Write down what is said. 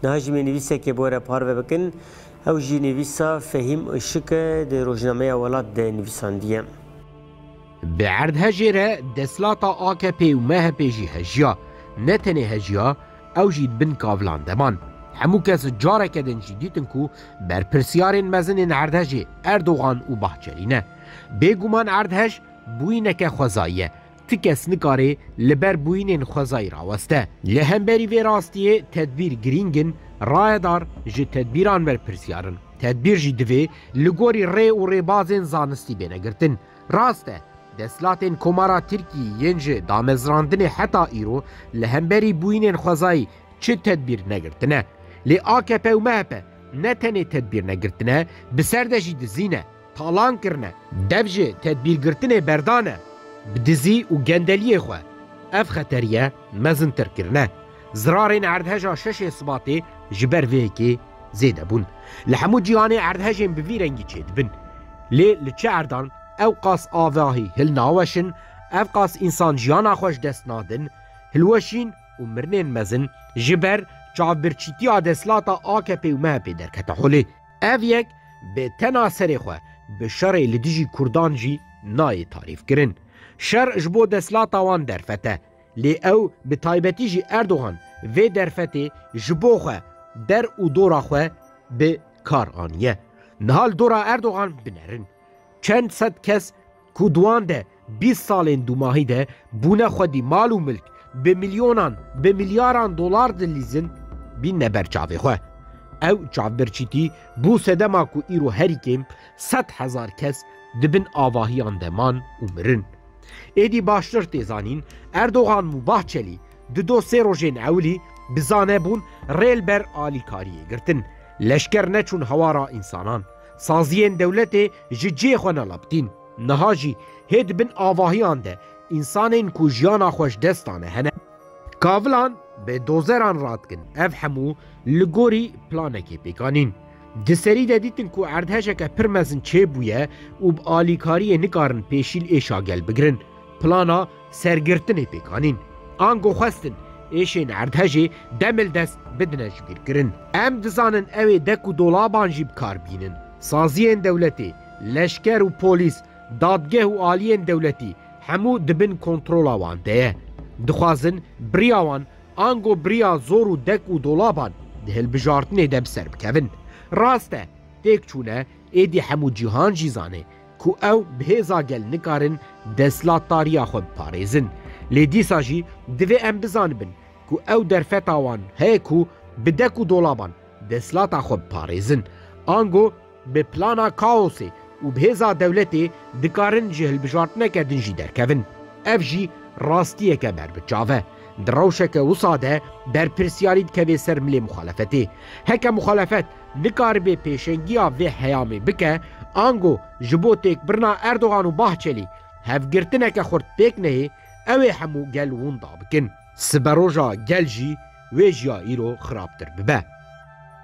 Niha jî me nivîsekê bo re parve bikin. Ew jî nivîsa Fehîm Işık e, di Rojnameya Welat de nivîsandiye. Bi erdhejê re desthilata AKP'ê û MHP'ê jî hejiya. Ne tenê hejiya, ew jî di bin kavilan de man. Hemû kes careke din jî dîtin ku berpirsyarên mezin ên erdhejê Erdogan û Bahçelî ne. Bêguman erdhej bûyîneke xwezayî ye. Ti kes nikare li ber bûyînên xwezayî raweste. Li hemberî vê rastiyê tedbîr girîng in, rayedar ji tedbîran berpirsiyar in. Tedbîr jî divê li gorî rê û rêbazên zanistî bêne girtin. Rast e, desthilatên Komara Tirkiyê yên ji damezrandinê heta îro li hemberî bûyînên xwezayî çi tedbîr negirtine. Lê akp û mehp ne tenê tedbîr negirtine, bi ser de jî dizî ne. talan kirine, dev ji tedbîrgirtinê berdane, bi dizî û gendeliyê xwe ev xeteriye mezintir kirine. Zirarên erdheja şeşê Sibatê ji ber vê yekê zêde bûn. Li hemû cîhanê erdhejên bi vî rengî çêdibin. Lê li çi erdan ew qas avahî hilnaweşin, ev qas însan jiyana xwe ji dest nadin, hilweşîn û mirinên mezin ji ber çavbirçîtiya desthilata AKP'ê û MHP'ê derkete holê. Ev yek bi tena serê xwe bi şerê li dijî Kurdan jî nayê tarîfkirin. Şer ji bo desthilata wan derfet e. Lê ew bi taybetî jî Erdogan vê derfetê ji bo xwe, der û dora xwe bi kar aniye. Niha li dora Erdogan binerin. Çend sed kes ku di wan de bîst salên dûmahî de bûne xwedî mal û milk bi milyonan, bi milyaran dolar dilîzin, bînne ber çavê xwe. Ew çavbirçîtî bû sedema ku îro herî kêm sed hezar kes di bin avahiyan de man û mirin. Êdî baştir tê zanîn Erdogan û Bahçelî di do sê rojên ewilî bi zane bûn rê li ber alîkariyê girtin, leşker neçûn hawara însanan. Saziyên dewletê ji cihê xwe nelaptîn. Niha jî hê di bin avahiyan de însanên ku jiyana xwe ji dest dane hene. Kavilan bê dozeran radikin. Ev hemû li gorî planekê pêk anîn. Di serî de dîtin ku erdhejeke pir mezin çêbûye û bi alîkariyê nikarin pêşîl êşa gel bigirin. Plana. Sergirtinê pêk anîn. Ango xwestin êşên erdhejê dem li dest bidine jibîrkirin. Em dizanin ew ê dek û dolaban jî bi kar bînin. Saziyên dewletê, leşker û polîs, dadgeh û aliyên dewletî hemû di bin kontrola wan de ye. Dixwazin biriya wan ango biriya zor û dek û dolaban di hilbijartinê de bi ser bikevin. Rast e, têk çûne êdî hemû cîhan jî zanê ku ew bi hêza gel nikarin destlatdariya xwe biparêzin, lê dîsa jî divê em bizanibin ku ew derfeta wan heye ku bi dek û dolaban destlata xwe biparêzin, ango bi plana kaosê û bi hêza dewletê dikarin ji hilbijartineke din jî derkevin. Ev jî rastiyeke ber bi çav e. Di rewşeke wisa de berpirsyarî dikeve ser milê muxalefetê. Heke muxalefet nikaribe pêşengiya vê heyamê bike, ango ji bo têkbirina Erdogan û Bahçelî hevgirtineke xurt pêk neyê, ew ê hemû gel winda bikin. Siberoja gel jî wê jiya îro xirabtir bibe.